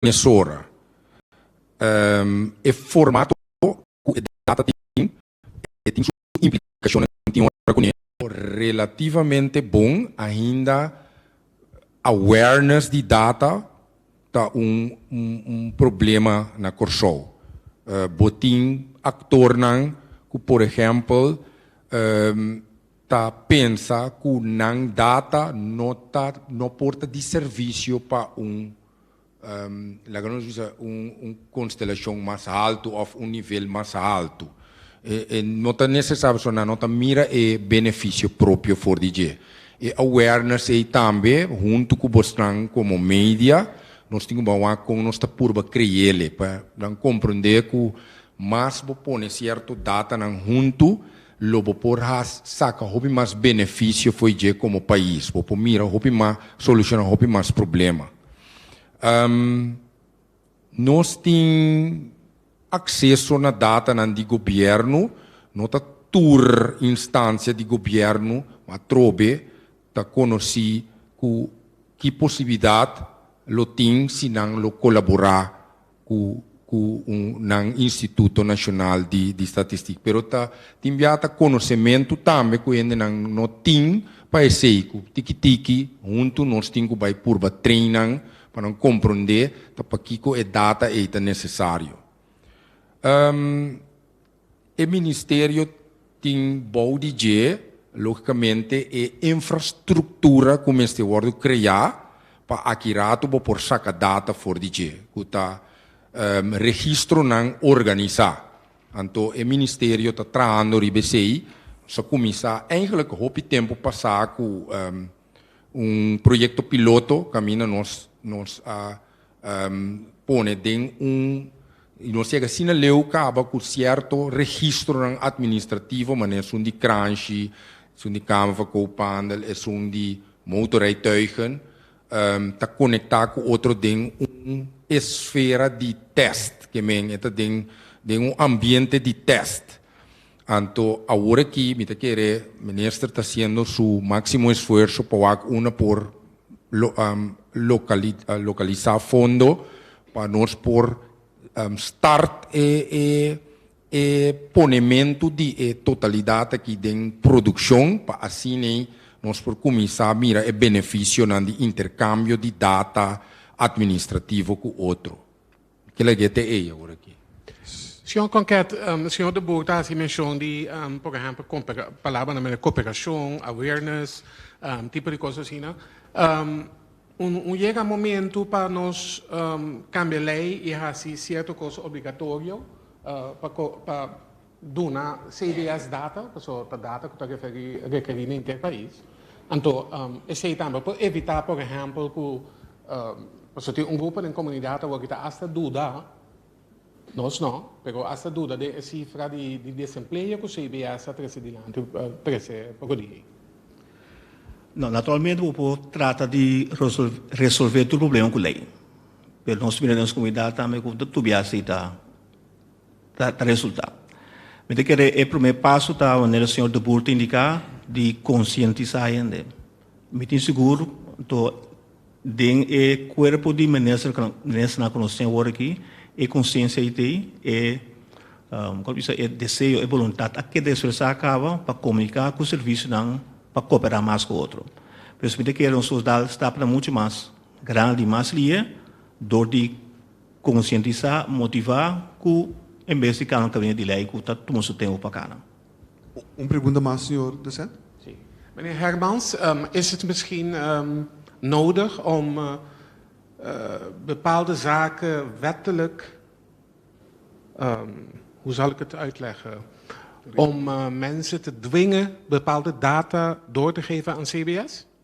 mesora e formato ku e data tin e tin su implikashonnan tin ora kuné. Relativamente bon ainda awareness di data ta un problema na Kòrsou. Bo tin aktornan ku por ehèmpel ta pensa ku nan data no ta no por ta di servisio pa un. Laga nos bisa un konstelashon mas haltu òf un nivel mas haltu. E no ta nesesar pasobra no ta mira e benefisio propio for di dje. E awareness ei tambe huntu ku bosnan komo media nos tin ku bawa kon nos ta purba kre'el e pa nan komprondé ku mas bo pone sierto datanan huntu Lo bo por haas saca hopi mas beneficio fo'i dje como pais. Bo por mira hopi mas, soluciona hopi mas problema. Ehm, nos tin acceso na datanan di gobierno, no ta tur instancia di gobierno, ma atrobe ta conoci cu ki posibilidad lo tin si nan lo colabora ku ku un nan instituto nashonal di di statistik pero ta tin bia ta konosementu tambe ku hendenan no tin pa esei ku tiki tiki huntu nos tin ku bai purba train nan pa nan komprondé ta pakiko e data ei ta nesesario. E ministerio tin bou di dje, logicamente, e infrastructura cu mester wordo crea pa aki rato bo por saca data for di dje, cu ta registronan organisa. Anto e ministerio ta trahando riba esey. Bo sa cuminsa, eigenlijk, hopi tempo pasa cu. Un proyecto piloto caminda nos nos a um pone den un y nos yega asina leu caba cu cierto registronan administrativo manera esun di Kranshi, esun di Kamfer Koophandel, esun di Motorrijtuigen um ta conecta cu otro den un esfera di test, ke men e ta den den un ambiente di test. Anto awor aki mi ta kere Minister ta hasiendo su maximo esfuerso pa wak una por localisa fondo pa nos por start e ponemento di e totalidad aki den produccion pa asina ei nos por cuminsa mira e beneficionan di intercambio di data administrativo cu otro. Kila dia ta ey awor aki. Señor Conquet, Señor de Boer ta haci mencion di, por ehemplo, palabranan mester cooperacion, awareness, tipo di cos asina. Un yega momento pa nos cambia ley y haci cierto cos obligatorio pa duna cbs data, paso ta data cu ta requeri na inter pais, anto esey tambe por evita por ehempel cu paso tin un grupo den comunidad awor cu ta hasta duda, nos no, pero hasta duda den e cifra di desempleo cu cbs a trece dilanti, trece poco di ey. No, naturalmente bo por trata di resolve tur problema cu ley, pero nos mira den nos comunidad tambe cu tobia esey ta. ta resultá. Mi ta kere e promé paso ta manera e señor De Boer ta indiká di konsientisá hende. Mi tin sigur anto den e kuerpo di ministernan, ministernan ku nos tin awor aki, e konsiensia ei ta ei, e kua ku bisa e deseo, e boluntat a keda espresá kaba pa komuniká ku servisionan pa koperá mas ku otro. Por eso mi ta kere nos da stapnan muchu mas grandi, mas lie dor di. Konsientisá, motivá ku en bes di kana kabinete di lei ku ta tuma su tempu pa kana. Un pregunta mas, señor Present. Sí. Meneer Hermans, is het misschien nodig om bepaalde zaken wettelijk, hoe zal ik het uitleggen, om mensen te dwingen bepaalde data door te geven aan CBS?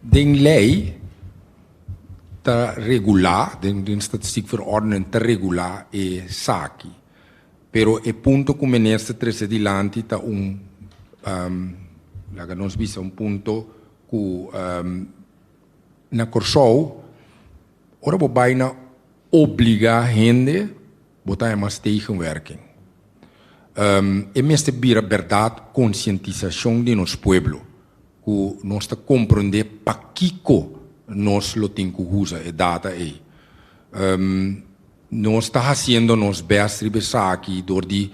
Den lei ta regulá, den statistik verordening ta regulá esaki, pero e punto ku minister trese dilanti ta un laga nos bisa un punto ku na Kòrsou ora bo bai na obligá hende Bo ta emas tegenwerking. E mester bira bèrdat konsientisashon den nos pueblo, ku nos ta komprondé pakiko nos lo tin ku usa e data ei. Nos ta hasiendo nos bèst riba esaki dor di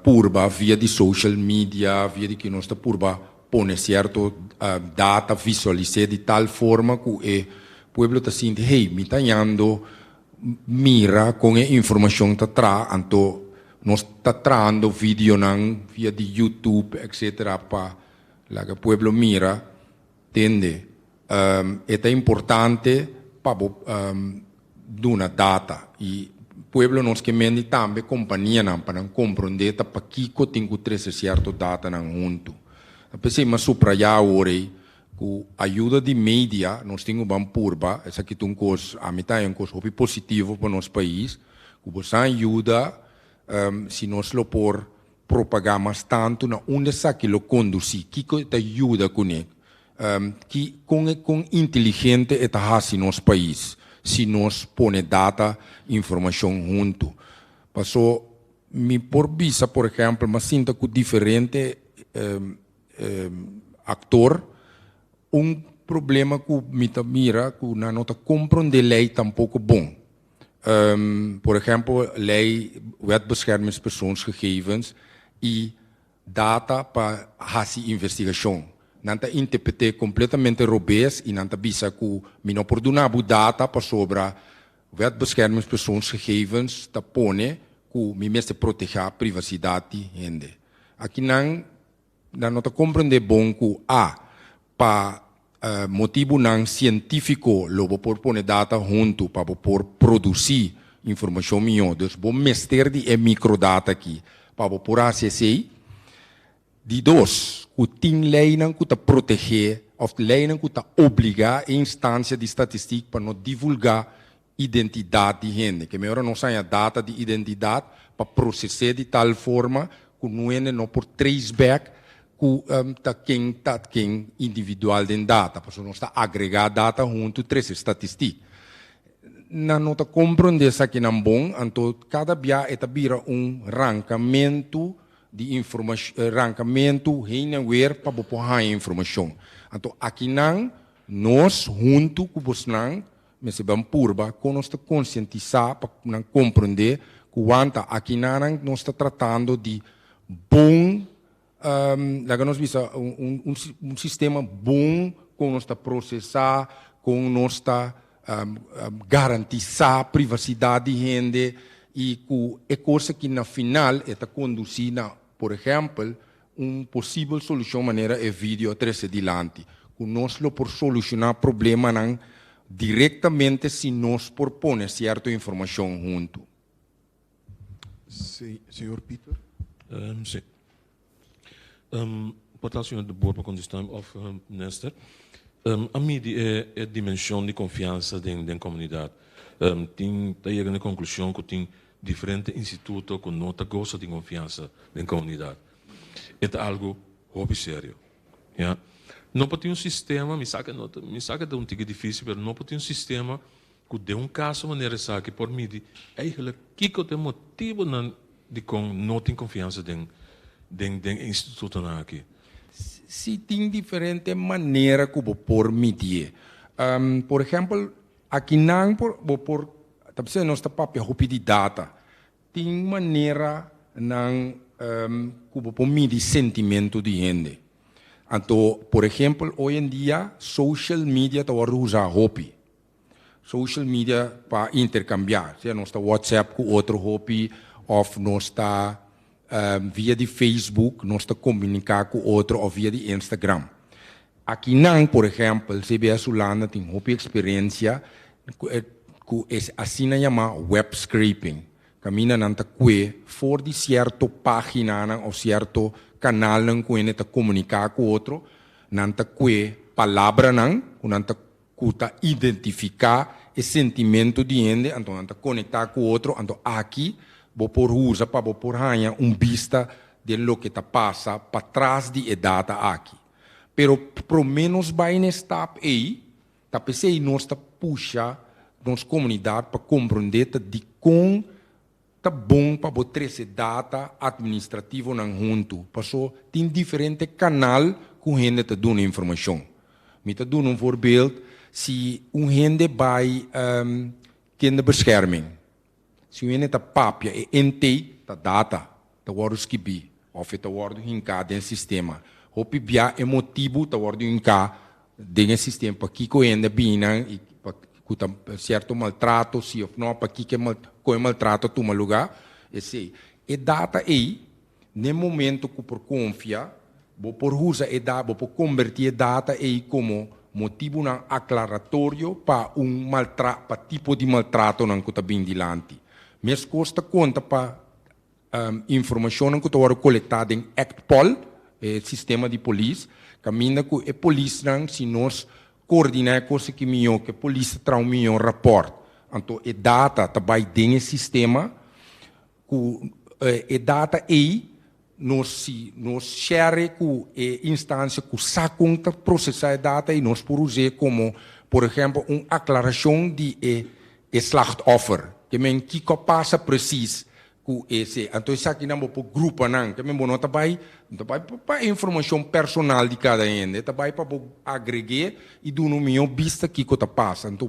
purba via di social media, via di ki nos ta purba pone sierto data, visualis'é di tal forma ku e pueblo ta sinti, hey, mi ta yando mira kon e informashon ta traha anto nos ta trahando videonan via di YouTube etc pa laga pueblo mira tende e ta importante pa bo duna data y pueblo nos ke mendi tambe kompanianan pa nan kompronde ta pakiko tin ku trese sierto datanan huntu ta p'esei m'a supraya awor ei Ku ayuda di media nos tin uban purba, esaki ta un kos, ami ta haña un kos hopi positivo pa nos pais, ku bo san yuda si nos lo por propagá mas tantu na unda esaki lo kondusí, kiko e ta yuda kuné, ki, kon e, kon inteligente e ta hasi nos pais si nos pone data, informashon huntu. Pasó mi por bisa, por ehèmpel, m'asinta ku diferente. Aktor, Un problema ku mi ta mira ku nan no ta komprondé lei tampoko bon. Por ehèmpel lei Wet Beschermingspersoonsgegevens i data pa hasi investigashon. Nan ta interpret'é kompletamente robes i nan ta bisa ku mi no por duna bo data pasobra Wet Beschermingspersoonsgegevens ta pone ku mi mester protegá privasidad di hende. Aki nan nan no ta komprendé bon ku a pa motibunan sientífiko lo bo por pone data huntu pa bo por produsí informashon mihó. Dus bo mester di e mikrodata aki pa bo por hasi esei. Di dos, ku tin leinan ku ta protegé òf leinan ku ta obligá e instansia di statistik pa no divulgá identidat di hende. Kei mihor a nos haña data di identidat pa proses'é di tal forma ku nuende no por trace back ku ta ken ta ken individual den data, pasobra nos ta agregá data huntu trese statistik. Nan no ta komprondé esakinan bon, anto kada bia e ta bira un rankamentu. Di rankamentu heen en weer pa bo por haña informashon. Anto akinan nos huntu ku bosnan mester ban purba kon nos ta konsientisá pa nan komprondé ku wanta akinanan nos ta tratando di bon, laga nos bisa un sistema bon kon nos ta prosesá, kon nos ta garantisá privasidad di hende y cu e cosa ki na final e ta conduci na, por ehempel, un posibel solucion manera e video a trece dilanti, cu nos lo por soluciona problemanan directamente si nos por pone cierto informacion hunto. Si, señor Pieter. Si. Um, por ta Señor de boor pa contestam of um, Nester. Um, a midi e, e dimension di confiansa den, den comunidad. Um, tin ta yega na e conclusion cu tin diferente instituto cu no ta goza di confiansa den comunidad. E ta algo hopi serio. Ya. No por tin un sistema, mi sa cu e no ta, mi sa cu e ta un tig'e dificil, pero no por tin un sistema Cu den un caso manera esaki por midi eigenlijk kico ta e motibonan dicon no tin confiansa den den den e institutonan aki. Si, tin diferente manera cu bo por midié. Por ehempel, akinan por bo por ta bisa nos ta papia hopi di data. Tin manera nan cu bo por midi sentimento di hende. Anto, por ehempel, hoy en dia social media ta wordo usa hopi. Social media pa intercambia, sea nos ta WhatsApp cu otro hopi of nos ta via di Facebook nos ta comunica cu otro of via di Instagram. Akinan, por ehempel, CBS Hulanda tin hopi experiencia cu e asina yama web scraping, caminda nan ta cue for di cierto paginanan of cierto canalnan cu hende ta comunica cu otro, nan ta cue palabranan cu nan ta cu ta identifica e sentimento di hende anto nan ta conecta cu otro, anto aki bo por usa pa bo por haya un bista den loke ta pasa patras di e data aki. Pero prome nos bay n'e stap ey, ta pesey nos ta pusha nos comunidad pa comprende ta dicon Ta bon pa bo trese data administrativonan huntu, paso tin diferente kanal ku hende ta duna informashon. Mi ta duna un voorbeeld, si un hende bai kinderbescherming, si un hende ta papia e intake, ta data ta wòrdu skibí. Of e ta wòrdu hinká den sistema. Hopi bia e motibu ta wòrdu hinká den e sistema, pakiko hende biinan i ku ta sierto maltrato si òf nò, pakiko e kon e maltrato a tuma lugá, esei. E data ei, n'e momentu ku por konfia, bo por usa e data, bo por kombertí e data ei komo motibunan aklaratorio pa un maltra pa tipo di maltratonan ku ta bin dilanti. Meskos ta konta pa Informashonnan ku ta wòrdu kolektá den Act-Pol, e sistema di polis, kaminda ku e polisnan, si nos koordiná e kos aki mihó, ku e polis ta traha un mihó rapòrt. Anto e data ta bai den e sistema, ku e data ei nos, si nos share ku e instansia ku sa kon ta prosesá e data ei, nos por us'é komo, por ehèmpel, un aklarashon di e E slachtoffer, ke men kiko pasa presis ku ese. Anto esakinan bo por grupa nan, ke men bo no ta bai, no ta bai pa e informashon personal di kada hende, ta bai pa bo agreg'é i duna un mihó bista kiko ta pasa. Anto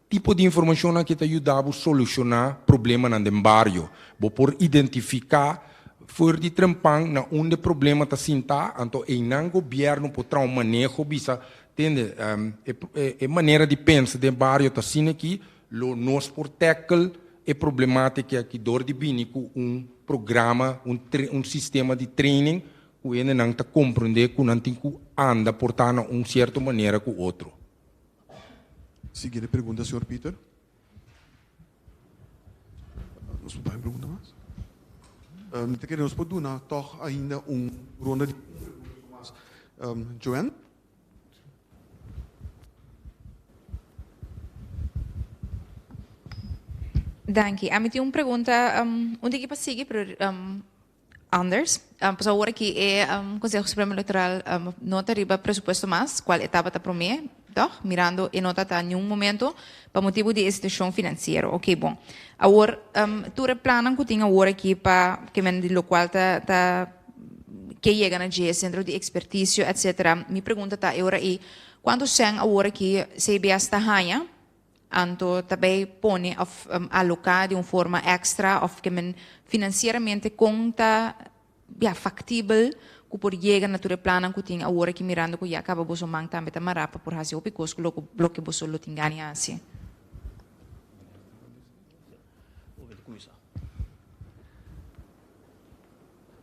tipo di informashon nan ke ta yuda bo solushoná problemanan den bario. Bo por identifiká for di trempan na unda e problema ta sintá, anto einan gobièrnu por trao maneho bisa Tende, e manera di pensa den bario ta asina aki, lo nos por tackle e problematica aki door di bini cu un programa, un sistema di training cu hendenan ta comprende cu nan tin cu anda porta na un cierto manera cu otro. Siguiente pregunta, señor Pieter. Nos por bay un pregunta mas? Mi ta kere nos por duna tog ainda un ronda di un pregunta mas. Joanne? Danki. Ami tin un pregunta un tiki pa sigui pero. Anders, Pues awor aki e Conseho Supremo Electoral no ta riba presupuesto mas, cual e tabata prome, toch? Mirando e no ta ta niun momento pa motibo di e situacion financiero. Ok, bon. Awor, tur e plannan cu tin awor aki pa kemen di locual ta ta ke yega na dje, Centro di Expertisio, etc. Mi pregunta ta e ora ei, cuanto cen awor aki CBS ta haña? Anto ta bay pone of aloca di un forma extra of ke men financieramente con ta ya factibel cu por yega na tur e plannan cu tin awor aki mirando cu ya caba boso man tambe ta mara pa por haci hopi cos cu lo lo ke boso lo tin gani haci.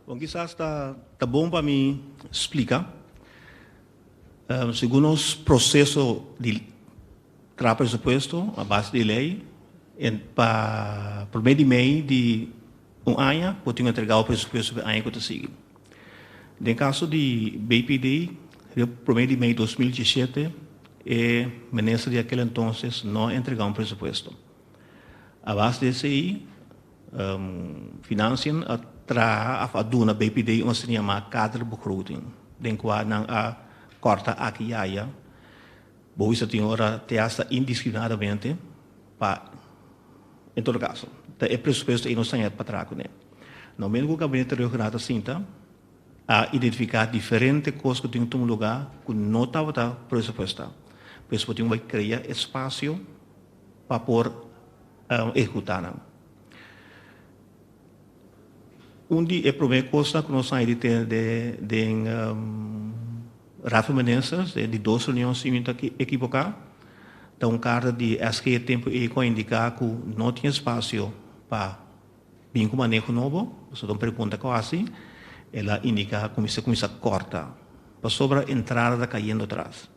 Bon, kisas ta ta bon pa mi splika segun nos proseso di traha presupuesto a base di e lei en pa prome di mei di un aña por tin entrega our presupuesto pa e aña ku ta sigui. Den kaso di BPD riba prome di mei dos mil diesete e minister di akel entonces no a entrega un presupuesto. A base di esei Financiën a traha of a duna BPD un asina yamá kaderbegroting den kua nan a kòrta aki i aya. Bo bisa tin ora te asta indisiplinadamente pa en todo kaso ta e presupuesto ei nos ta hèt pa traha kuné. Nou mester ku Gabinete Regional ta sinta a identifiká diferente kos ku tin un lugá ku no tabata presupuestá. Por eso bo tin ku bai krea espasio pa por ehecutá nan. Un di e prome cosnan cu nos a haña di tene den Raad van Ministers, den di dos reunion si mi no ta equivocá, ta un carta di SG tempo ey cu a indicá cu no tin espacio pa bin cu maneho nobo, pasobra un pregunta cu a haci el a indicá cu mi mester cuminsá corta, pasobra entrada ta cayendo atras.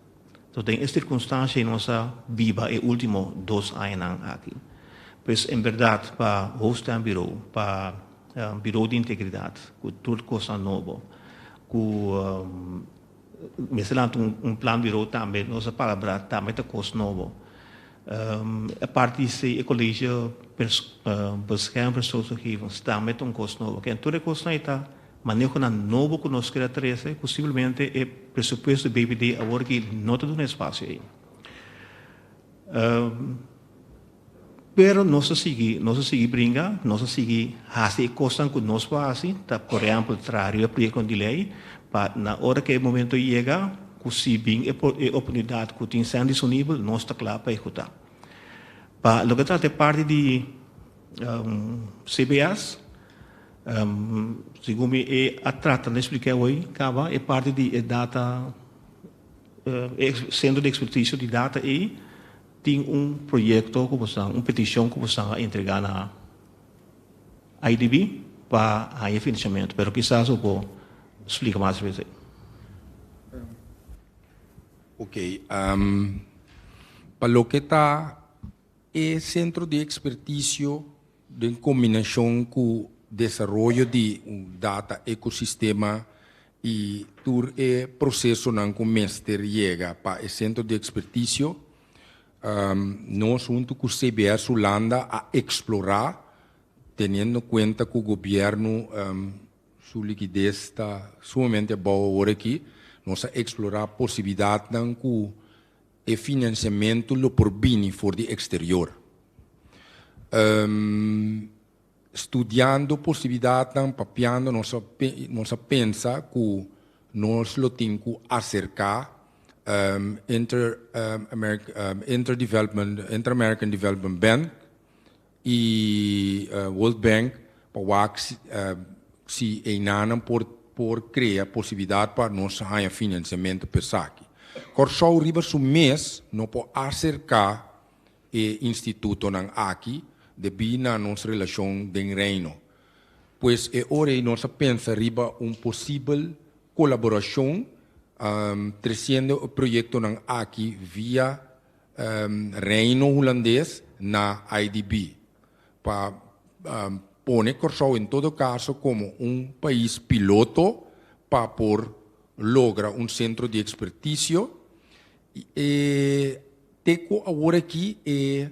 Nos den e sirkunstansia i nos a biba e ultimo dos añanan aki. Pues en berdad pa Hoofd Stembureau, pa Bureau di Integridad ku tur kosnan nobo ku mester lanta un plan bureau tambe nos a palabra tambe ta kos nobo. Aparte di esei e Colegio Bescherming Persoonsgegevens tambe ta un kos nobo. Ken tur e kosnan ei ta Manehonan nobo ku nos keda trese ku simplemente e presupuesto BBD awor aki no ta duna espasio ei. Pero nos ta sigui, nos ta sigui bringa, nos ta sigui hasi e kosnan ku nos por hasi, ta por ehèmpel traha riba proyektonan di lei pa na ora ku e momento yega ku si bin e oportunidat ku tin sèn disponibel nos ta kla pa ehekutá. Pa loke ta trata e parti di CBS. Segun mi e a trata di spliká awoy kaba e parti di e data, e sentro di ekspertisio di data ei tin un proyekto ku boso, un petishon ku boso a entregá na IDB pa haña finansiamentu, pero kisas bo por splika mas respetu ei. Oke, pa loke ta e sentro di ekspertisio. den combinacion cu desaroyo di un data ecosistema y tur e procesonan cu mester yega pa e centro di experticio, nos hunto cu CBS Hulanda a explora, teniendo cuenta cu gobierno su liquidez ta sumamente abao aworaki, nos a explora posibilidadnan cu E financiamento lo por bini for di exterior. Studiando posibilidadnan, papiando nos a pensa cu nos lo tin cu acerca Inter-American Development Bank i World Bank pa wak si einanan por krea posibilidat pa nos haña finansiamentu pa esaki. Kòrsou riba su mes no por aserká e institutonan aki debí na nos relashon den Reino. Pues e ora ei nos a pensa riba un posibel kolaborashon tresiendo e proyektonan aki via Reino Hulandes na IDB pa pone Kòrsou en todo kaso komo un pais piloto pa por logra un sentro di ekspertisio. Te ku awor aki e.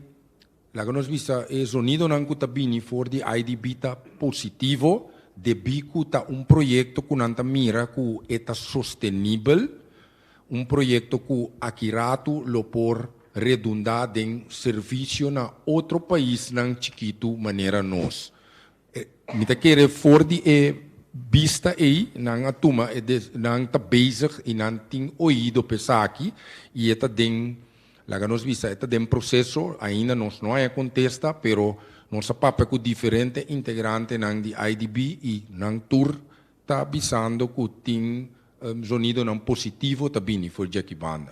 Laga nos bisa e zonidonan ku ta bini for di IDB ta positivo debí ku ta un proyekto ku nan ta mira ku e ta sostenibel, un proyekto ku aki ratu lo por redundá den servisio na otro paisnan chikitu manera nos. Mi ta kere for di e bista ei nan a tuma e des, nan ta bezig i nan tin oido pa esaki i e ta den, laga nos bisa, e ta den proseso, ainda nos no haña contesta, pero nos a papia cu diferente integrantenan di IDB i nan tur ta bisando cu tin zonidonan positivo ta bini for dje aki banda.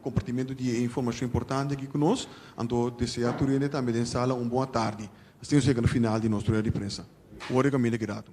Compartimento di e informacion importante aki cu nos, anto desea tur hende tambe den sala un bon atardi. Asina nos yega na final di nos rueda di prensa. Worry Camille Guirado.